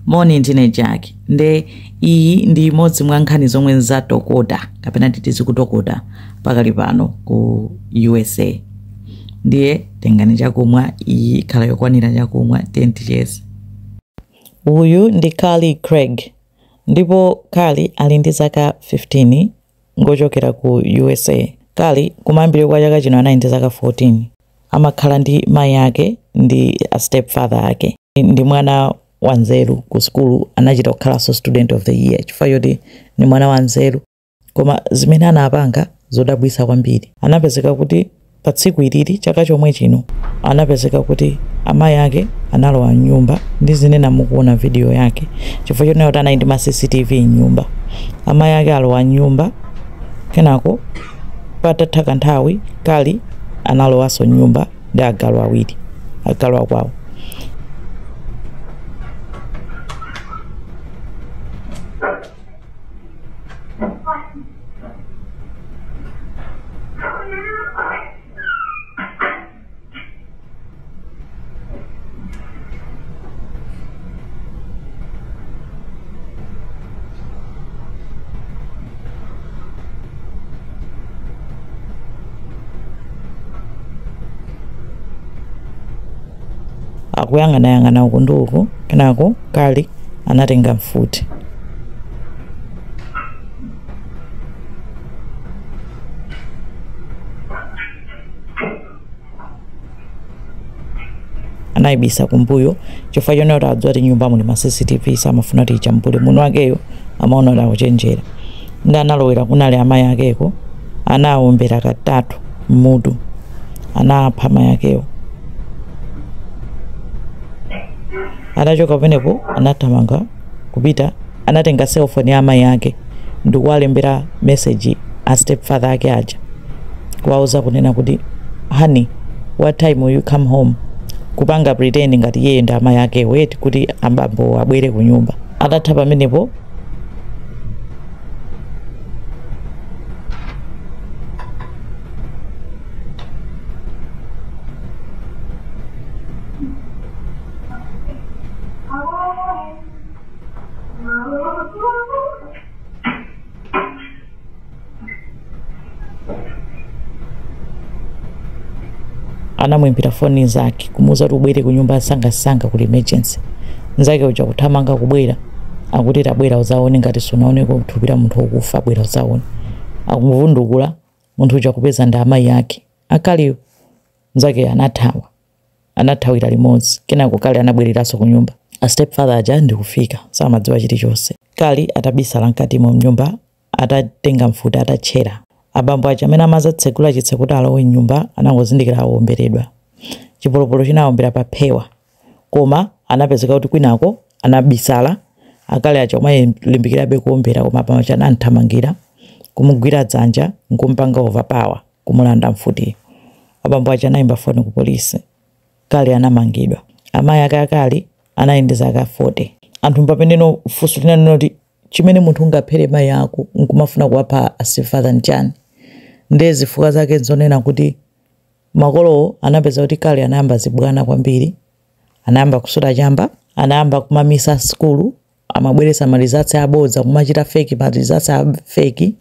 moni ndine jack nde iyi ndi imodzi mwa nkhani zomwe zatokota kapena titi zikutokota pakali pano ku usa ndiye tengani chakumwa iyi ikhala yokwanira chakumwa tizicheza uyu ndi carly craig ndipo carly ali ndi zaka 15 ngochokera ku usa carly kumayambiriro kwa chaka chino anali ndi zaka 14 amakhala ndi mayi ake ndi a step father ake ndi mwana wanzeru ku sukulu anachita kukhalanso student of the year chifukwa choti ndi mwana wanzeru koma zimene anapanga zodabwitsa kwambiri anapezeka kuti pa tsiku ilili chaka chomwe chino anapezeka kuti amayi ake analowa mnyumba ndizinena mukuona video yake chifukwa choti naye anali ndi ma cctv mnyumba amayi ake alowa mnyumba kenako Patatha kanthawi, Carly analowanso m'nyumba ndi agalu awiri, agalu akwawo. akuyang'anayang'ana uku ndi uku kenako carly anatenga mfuti anaibisa kumbuyo chifukwa choti adziwa kuti mnyumba muli ma cctv samafuna kuti ijambule mmutu mwakeyo amaona ngati akuchenjera nde analowera kunali amayi akeko anawombera katatu mmutu anapha amayi akewo atachoka pamenepo anathamanga kupita anatenga cellphone ya amayi ake ndikuwalembera message a step father ake aja kuwauza kunena kuti honey what time will you come home kupanga pretend ngati iyeyo ndi amayi akewo eti kuti abambo abwere kunyumba atatha pamenepo anamuimbira foni nzake kumuuza kuti ubwere ku nyumba mwansangansanga kuli emergency nzake uja kuthamanga kubwera akuti tabwera uzaone ngati sunaoneko thupi la munthu wokufa bwera uzaone akumuvundukula munthu uja kupeza ndi amayi ake a carly wo nzake anathawa anathawira limodzi. Kenako Carly anabwereranso kunyumba. A stepfather aja ndi kufika, samadziwa chilichonse. Carly atabisala mkatimo mnyumba atatenga mfuti atatchera. Abambo aja amene amadzatsegula chitseko kuti alowe mnyumba anangozindikira awomberedwa. Chipolopolo chinawawombera pa phewa. Koma anapezeka kuti kwinako anabisala. A Carly aja kumalimbikirabe kuwombera koma abambo aja anamthamangira, kumugwira dzanja nkumupanga overpower. kumulanda mfuti. Abambo aja anaimba foni ku polisi. Carly anamangidwa. Amayi ake a Carly anali ndi zaka 40. Anthu pameneno funso linanena kuti, Chimene munthu ungaphere mayi ako n'kumafuna kuwapha a stepfather n'chiyani? Ndiye zifukwa zake n'zonena kuti makolowo anapeza kuti Carly anayamba zibwana kwambiri, anayamba kusuta chamba, anayamba kumamisa sukulu amabweretsa ma results abodza kumachita fake ma results a fake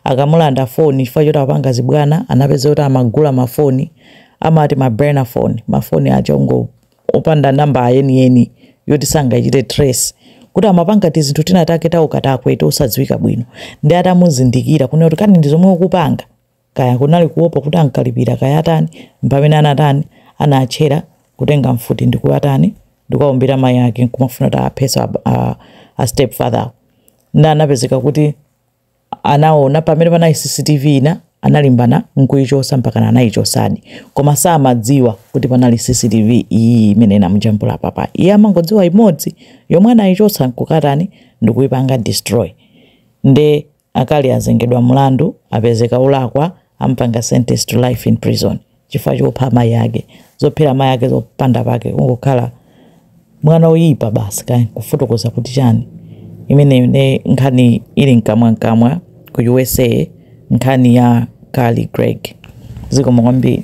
akamulanda phone chifukwa choti apanga zibwana anapeza kuti amagula ma phone amati ma burner phone ma phone aja ongo opanda namba yeniyeni yoti sangachite trace kuti amapanga tizinthu tinatake taukatakwe tosadziwika bwino nde atamuzindikira kunena kuti kani ndi zomwe ukupanga Kaya kunali kuopa kuti amkalipira kaya atani mpamene anatani anatchera kutenga mfuti ndikuwatani ndikuwawombera mai ake nkumafuna kuti aphenso a, a, a stepfather-wo nde anapezeka kuti anaona pamene panali CCTV ina analimbana nkuichotsa mpakana anaichotsadi koma samadziwa kuti panali CCTV iyi imene inamujambula apapa iye amangodziwa imodzi yomwe anaichotsa nkukatani ndikuipanga destroy nde A Carly azengedwa mulandu apezeka olakwa amupanga sentence to life in prison chifukwa chopha amayi ake. Zophera amayi ake zopanda pake kungokhala mwana oyipa basi kaya kufotokoza kuti chani imeneyo nde nkhani ili mkamwa mkamwa ku USA nkhani ya Carly Gregg. Zikomo kwambiri.